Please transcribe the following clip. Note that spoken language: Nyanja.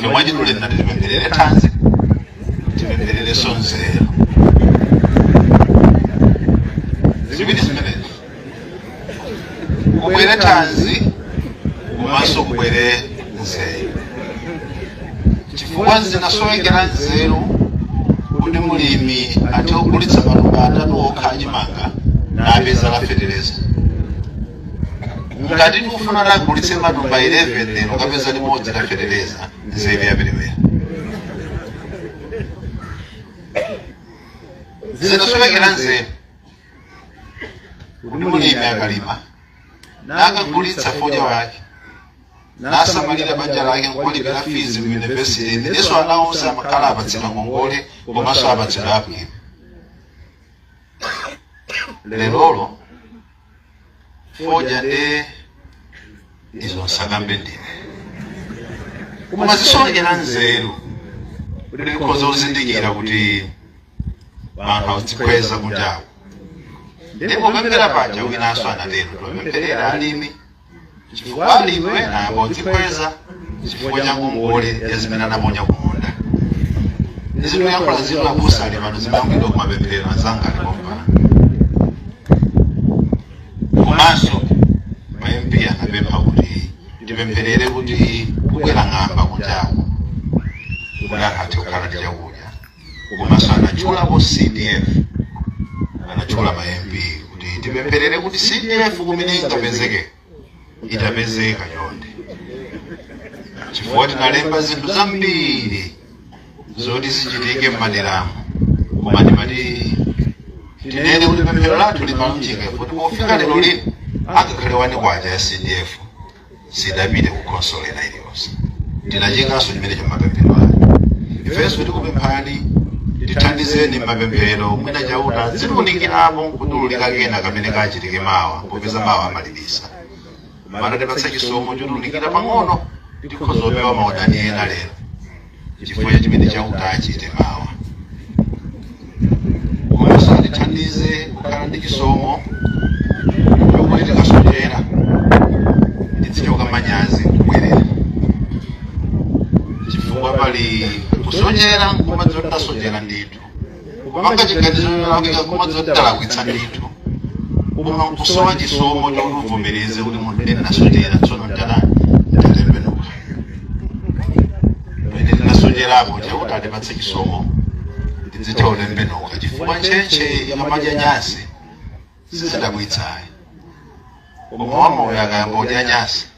chomwe chitule tinati tipempherere thanzi tipemphererenso nzeru ziwiri zimenezi kubwere thanzi komanso kubwere nzeru chifukwa zimasowekera nzeru kuti mulimi athe kugulitsa matumba atatu okha achimanga napeza la fetereza ngati akufuna agulitse matumba 11 lero napeza limodzi la fetereza nzeru yaperewera zimasowekera nzeru kuti mulimi akalima nakagulitsa fodya wake nasamalira banja lake nkuwalipirira fizi ku yunivesiti imenenso ana onse amakhala apatsidwa ngongole komanso apatsidwa abwino lerolo fodya nde izo nsakambe ndine koma zisowekera nzeru kuti ndikhoza kuzindikira kuti anthu akudzikweza kunjaku ndi popemphera paja winanso anatero tipempherere alimi chifukwa alimi ena angodzikweza chifukwa cha ngongole ya zimene anaponya kumunda ndi zimene ayankhula zino abusa ali pano zimangidwa kumapemphero anzanga ali pompano komanso ma mp anapempha kuti tipempherere kuti kubwera ng'amba kunjaku kuti anthu athe kukhala ndi chakudya komanso anatchulapo cdf anatchula ma mp kuti tipempherere kuti cdf kumene ingapezeke itapezeka chonde chifukwa tinalemba zinthu zambiri zoti zichitike m'maderamu koma ndimati tinene kuti pemphero lathu limalunjika kuti pofika lero lino angakhale wani kwacha ya cdf sidapite ku khonsolo ina iliyonse tinachikanso chimenecho mapemphero ake ifenso tikupemphani tithandizeni m'mapemphero mwina chauta adzatiunikirapo nkutulukira kena kamene kachitike mawa popeza mawa amalibisa mwina atipatsa chisomo chotulukira pang'ono tikhoza kupewa maudani ena lero chifukwa cha chimene chauta achite mawa komanso atithandize kukhala ndi chisomo chokuti tikasochera tidzichoka manyazi kubwerera chifukwa pali kusochera nkumadziwa kuti tasochera ndithu kupanga chiganizo cholakwika kumadziwa kuti talakwitsa ndithu koma kusowa chisomo chokuti uvomereze kuti munthu ine ndinasochera tsono ndatembenuka pamene ndinasocherapo chauta atipatse chisomo tidzithe kutembenuka chifukwa ntchentche ikamadya nyasi sizidabwitsayi koma wamoyo akayamba kudya nyasi